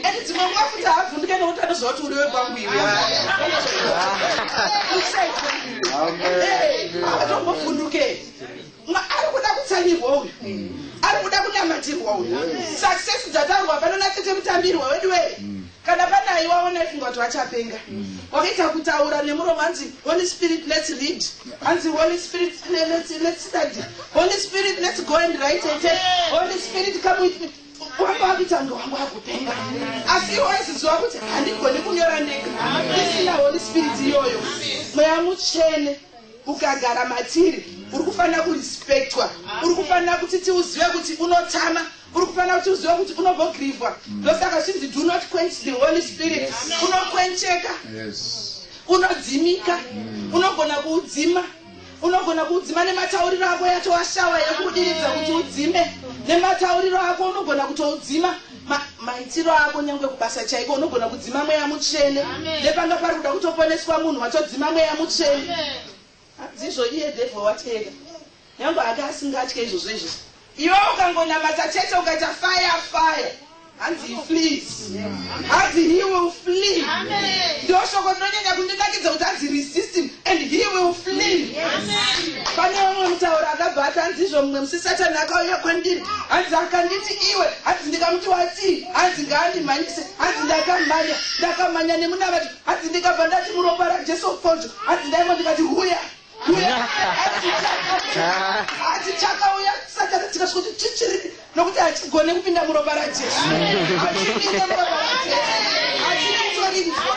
and dzimwe nguva futi haavhunduke nokuti anoziva kuti uri wekwangu iwe atombofunduke ari kuda kutsanyirwa uyu ari kuda kunamatirwa uyu success dzataurwa pano natete mutambirwa wedu wee Kana pane aiwawo ndaifunga kuti vachapenga. Wakaita kutaura nemuromo hanzi Holy Spirit let's read. Hanzi Holy Spirit le- let's let's study. Holy Spirit let's go and write a test. Holy Spirit come with me. Wanga wakuita kunge wanga wakupenga. Asi iwe waiziziwa kuti handigoni kunyora ndega. Ndisina Holy Spirit iyoyo. Mweya mutsvene ukagara matiri uri kufanira kurespectwa. Uri kufanira kuti tiuzive kuti unotama Uri kufanira kuti uzive kuti unobogirivhwa. Ndosaka chinzi do not quench the Holy Spirit. Unokwencheka. Unodzimika. Mm. Unogona kuudzima. Unogona kuudzima nematauriro ako yatova shawa yekudiridza kuti udzime. Nematauriro ako unogona kutoudzima maitiro ako nyange kubasa chaiko unogona kudzima mweya mutsvene nepanga pari kuda kutoponeswa munhu watodzima mweya mutsvene Handizvo iye devil wateera. Nyangwe anga asingatye izvozvo izvozvo. Iwe ukangonamata chete ukaita fire fire. Hanzi he flees. Hanzi he will flee. Ndiro shoko rinonyanya kundinakidza kuti hanzi resist him and he will flee. Pane vamwe mutauro akabva ati hanzi izvo mumwe musi satani akauya kwandiri. Hanzi akanditi iwe. Hanzi ndikamuti watii. Hanzi ngaandimhanyise. Hanzi ndakamhanya. Ndakamhanya nemunamati. Hanzi ndikabva ndati muropa raJesu Mfonjo, hanzi ndaimwa ndikati huya huya, hanzi chakauya, hanzi chakauya, Satana tikasvika kuti chichiripi nokuti hachigone kupinda muropa raJesu, hachipinde muropa raJesu, hachina kutorinzwa.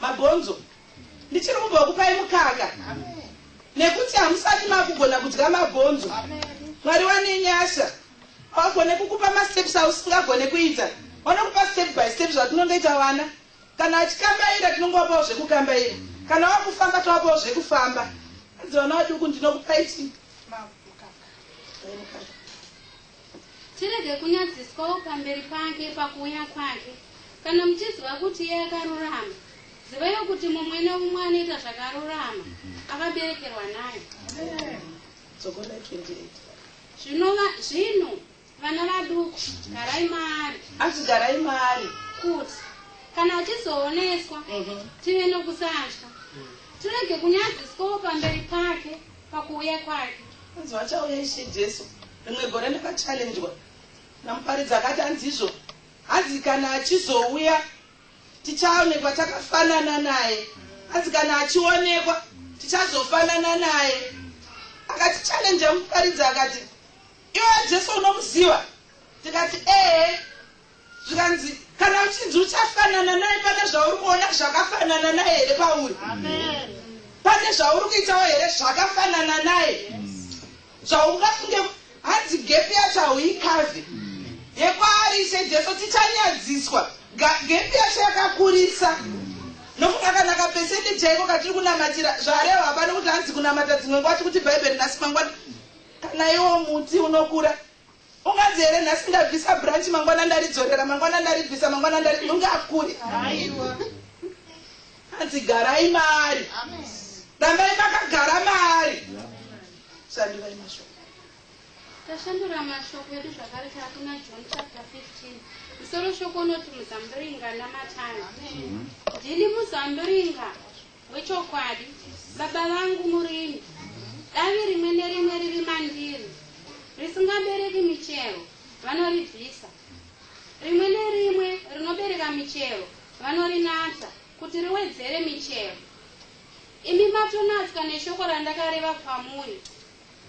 Mabhonzo. Ndichiri kumbo kupai mukaka. Nekuti hamusati makugona kudya mabhonzo. Mwari wane nyasha. Pagone kukupa masteps ausingagone kuita. Vanokupa step by step zvatinongoita vana. Kana achikambaira tinongovapawo zvekukambaira. Kana wakufamba tovapawo zvekufamba. Adzi vana vaduku ndinokupai chii? Mukaka. Tirege kunyadziswawo pamberi pake pakuuya kwake. Kana muchiziva kuti iye akarurama, zivaiwo kuti mumwe neumwe anoita zvakarurama akaberekerwa naye. Zvinova zvino vana vaduku, garai maari. Asi garai maari. Kuti kana achizooneswa mhm. tive nokusatya tirege kunyadziswawo pamberi pake pakuuya kwake anzi vachauya ishe jesu Rimwe gore ndakachallenjwa namuparidzi akati hanzizvo hanzi kana achizouya tichaonekwa takafanana naye hanzi kana achionekwa tichazofanana naye akati challenja muparidzi akati iwe jesu unomuziva tikati ee Zvikanzi, Kana uchinzi uchafanana naye, pane zvauri kuona zvakafanana naye here pauri? Pane zvauri kuitawo here zvakafanana naye? Zvaungafunge hanzi gepi yacho hauikave. Yekwaari Ishe Jesu tichanyadziswa. Gepi yacho yakakurisa. Nokuda kana kapesende chaiko katiri kunamatira zvareva hapana kuti hanzi kunamata dzimwe nguva tikuti Bhaibheri nhasi mangwana kana iwo muti unokura. Unganzi here nhasi ndabvisa branch mangwana ndaridzorera mangwana ndaribvisa mangwana ndari mungakure. Aiwa. Hanzi garai maari. Amen. Rambai makagara maari. Yeah. Sandivai mashoko. tashandura mashoko edu zvakare taakuna john chapter 15 musoro shoko unoti muzambiringa namatani ndini muzambiringa Wechokwadi, baba vangu murimi, davi rimwe nerimwe riri mandiri risingabereki michero vanoribvisa, rimwe nerimwe rinobereka michero vanorinatsa kuti riwedzere michero. Imi matonatswa neshoko randakareva kwamuri,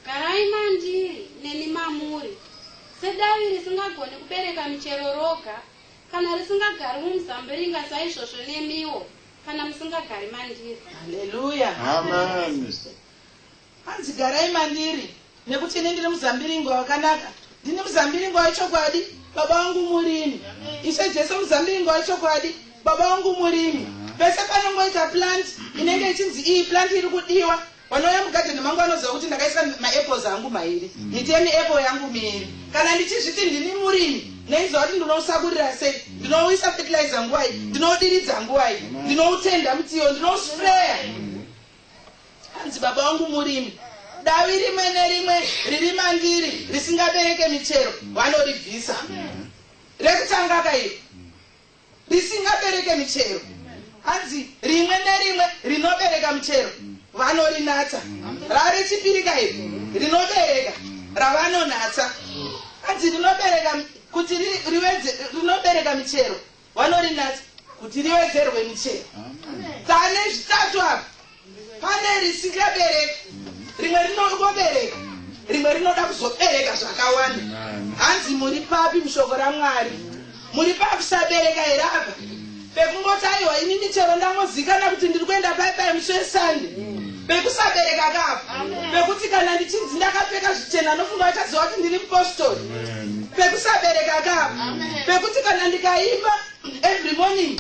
garai mandiri neni mamuri, sedavi risingagoni kubereka michero roga, kana risingagari mumuzambiringa saizvozvo nemiwo. Kana musingagari mandiri. Hallelujah. Amen. Hanzi garai mandiri nekuti ini ndiri muzambiringwa wakanaka. Ndini muzambiringwa wechokwadi. Baba wangu murimi. Ishe Jesu muzambiringwa wechokwadi. Baba wangu murimi. Pese panongoita plant inenge ichinzi iyi plant iri kudiwa. Vanouya mugadheni mangu vanoziva kuti ndakaisa maapples angu mairi, miti yemiapple yangu miiri. Kana ndichizviti ndini murimi, ndoiziva kuti ndinousakurira sei, ndinouisa fertilizer nguvai, ndinoudiridza nguvai, ndinoutenda mutiyo, ndinousprayer. Hanzi baba vangu murimi, davi rimwe nerimwe riri mandiri risingabereke michero vanoribvisa. Rekutanga ka iri. risingabereke michero hanzi rimwe nerimwe rinobereka michero vanorinatsa rave chipiri ka iri rinobereka ravanonatsa hanzi rinobereka kuti rinobereka michero vanorinatsa kuti riwedzerwe michero tane zvitatu apa Pane risingabereki, rimwe rinongobereka, rimwe rinoda kuzobereka zvakawanda. Hanzi muri papi mushoko raMwari? Muri pakusabereka here apa? Pekungoti aiwa ini ndichero ndangozikana kuti ndiri kuenda pai pai musi weSunday. Pekusabereka kapa. Pekuti kana ndichinzi ndakapfeka zvichena nofunga vachaziva kuti ndiri mupostori. Pekusabereka kapa. Pekuti kana ndikaimba every morning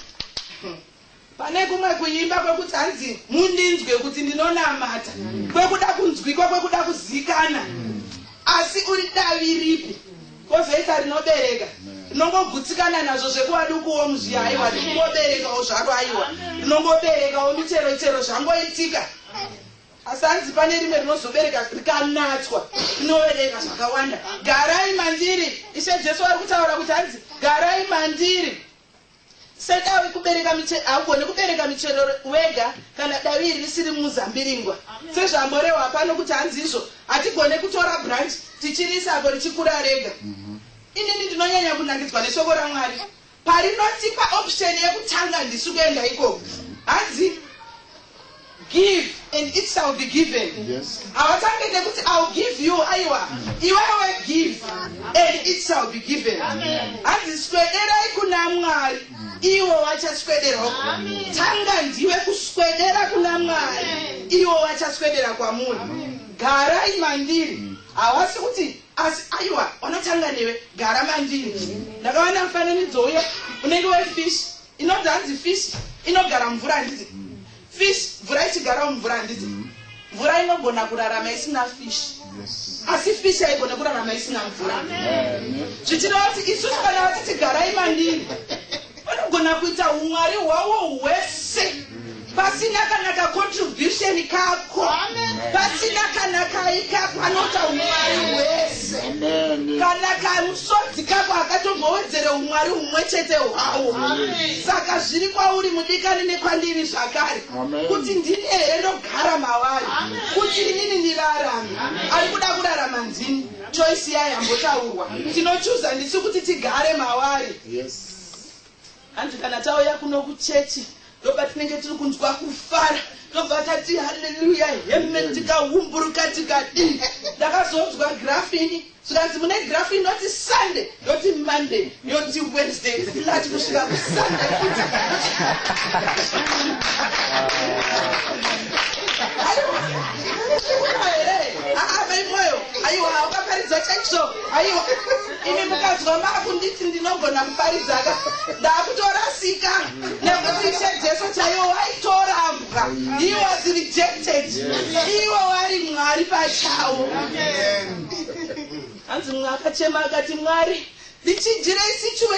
Pane kumwe kuimba kwekuti hanzi mundinzwe kuti ndinonamata kwekuda kunzwikwa kwekuda kuzikana asi uri davi ripi kozoita rinobereka rinongogutsikana nazvo zvekuwadi ukuwo muzviya haiwa rikungoberekawo zvaro aiwa rinongoberekawo michero chero zvangoitika asi hanzi pane rimwe rinozobereka rikanatswa rinobereka zvakawanda garai mandiri ishe jesu vari kutaura kuti hanzi garai mandiri Sedawi kubereka michero, haugone kubereka michero wega kana dawi iri risiri muzambiringwa. Sezvamborehwa pano kuti hanzi izvo, hatigone kutora branch tichiriisa apo richikura rega. Mhm. Inini ndinonyanya kunangidzwa neshoko raMwari. Parinotipa option yekutanga ndisu kuenda ikoko. Hanzi Give and it shall be given. Yes. Havatange nekuti I'll give you aiwa iwewe give and it shall be given. Hanzi swederai kuna Mwari iwo wachaswederwa. Tanga ndiwe kuswedera kuna Mwari iwo wachaswedera kwamuri. Garai mandiri. Hawasi kuti asi aiwa wanotanga newe gara mandiri. Ndakawana mufananidzo uye unenge wefish Inonzi hanzi fish inogara mvura handiti? Mm. Fish mvura ichigara mumvura handiti? Mm. Mvura inogona kurarama isina fish. Yes. Asi fish haigone kurarama isina mvura. Zvichireva kuti isu kana vati tigarai mandiri vanogona kuita umwari hwavo hwese. Mm. pasina kana kacontribution kako pasina kana kai kako anoita umwari hwese kana kamusodzi kako akatombowedzere umwari humwe chete hwawo saka zviri kwauri mudikani nekwandiri zvakare kuti ndini here ndogara mavari kuti inini nirarame ari kuda kurarama ndini choisi yayo yambotaurwa tinochuza ndisu kuti tigare mavari yes. Hanzi kana tauya kuno kuchechi ndopatinenge tiri kunzwa kufara tobva tati haleluya heme tikahumburuka tikadii ndakazonzwa grafini zvikanzi mune grafini ndoti sunday ndoti monday ndoti wednesday ndati kusvika kusunday aiwa here aa mai moyo aiwa ukaparidza chaizvo aiwa imi mukadzwa makunditi ndinogona kuparidzaka ndakutorasika nekuti ishe jesu chaiwo waitorambwa he was rejected iwo wari mwari pachawo hanzi mumwe akachema akati mwari ndichijirei sichue